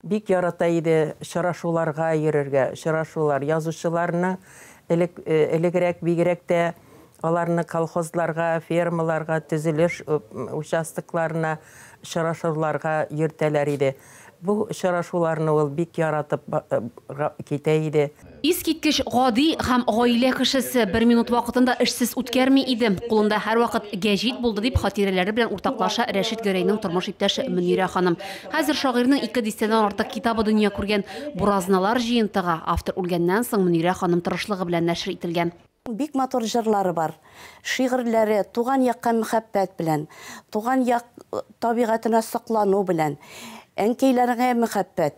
Бик ярата иде очрашуларга йөрергә. Очрашулар, язучыларның элек, элегрәк бигрәк тә аларның колхозларга, фермаларга, төзелеш участокларына очрашуларга йөртәләр иде. Бу очрашуларны ул бик яратып китә иде. Искиткеч гади һәм гаилә кешесе, бер минут вакытын да эшсез үткәрми иде. Кулында һәрвакыт гәҗит булды, дип хатирәләре белән уртаклаша Рәшит Гәрәйнең тормыш иптәше Мөнирә ханым. Хәзер шагыйрьнең ике дистәдән артык китабы дөнья күргән. Буразналар җыентыгы, автор үлгәннән соң, Мөнирә ханым тырышлыгы белән нәшер ителгән. Бик матур җырлары бар. Шигырьләре туган якка мөхәббәт белән, туган як табигатенә соклану белән, әнкәйләреңә мөхәббәт,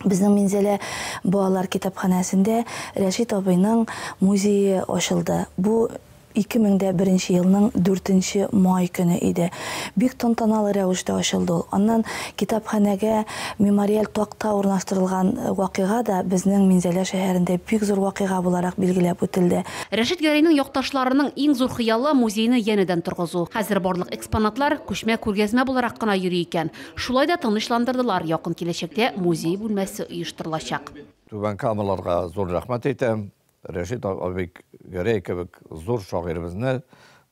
Безнең Минзәлә балалар китапханәсендә Рәшит абыйның музее ачылды. Бу 2001 елның 4 нче май көне иде. Бик тантаналы рәвештә ачылды ул. Аннан китапханәгә мемориаль такта урнаштырылган вакыйга да безнең Минзәлә шәһәрендә бик зур вакыйга буларак билгеләп үтелде. Рәшит Гәрәйнең якташларының иң зур хыялы, музейны янәдән торгызу. Хәзер барлык экспонатлар күчмә күргәзмә буларак кына йөри икән. Шулай да тынычландырдылар, якын киләчәктә музей бүлмәсе оештырылачак. Түбән Камаларга зур рәхмәт әйтәм. Рәшит абый Гәрәй кебек зур шагыйребезне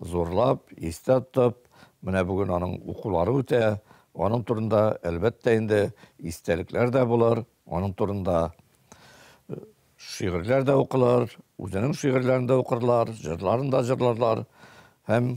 зурлап, истә тотып, менә бүген аның укулары үтә. Аның турында, әлбәттә инде, истәлекләр дә булыр, аның турында шигырьләр дә укылыр, үзенең шигырьләрен дә укырлар, җырларын да җырларлар һәм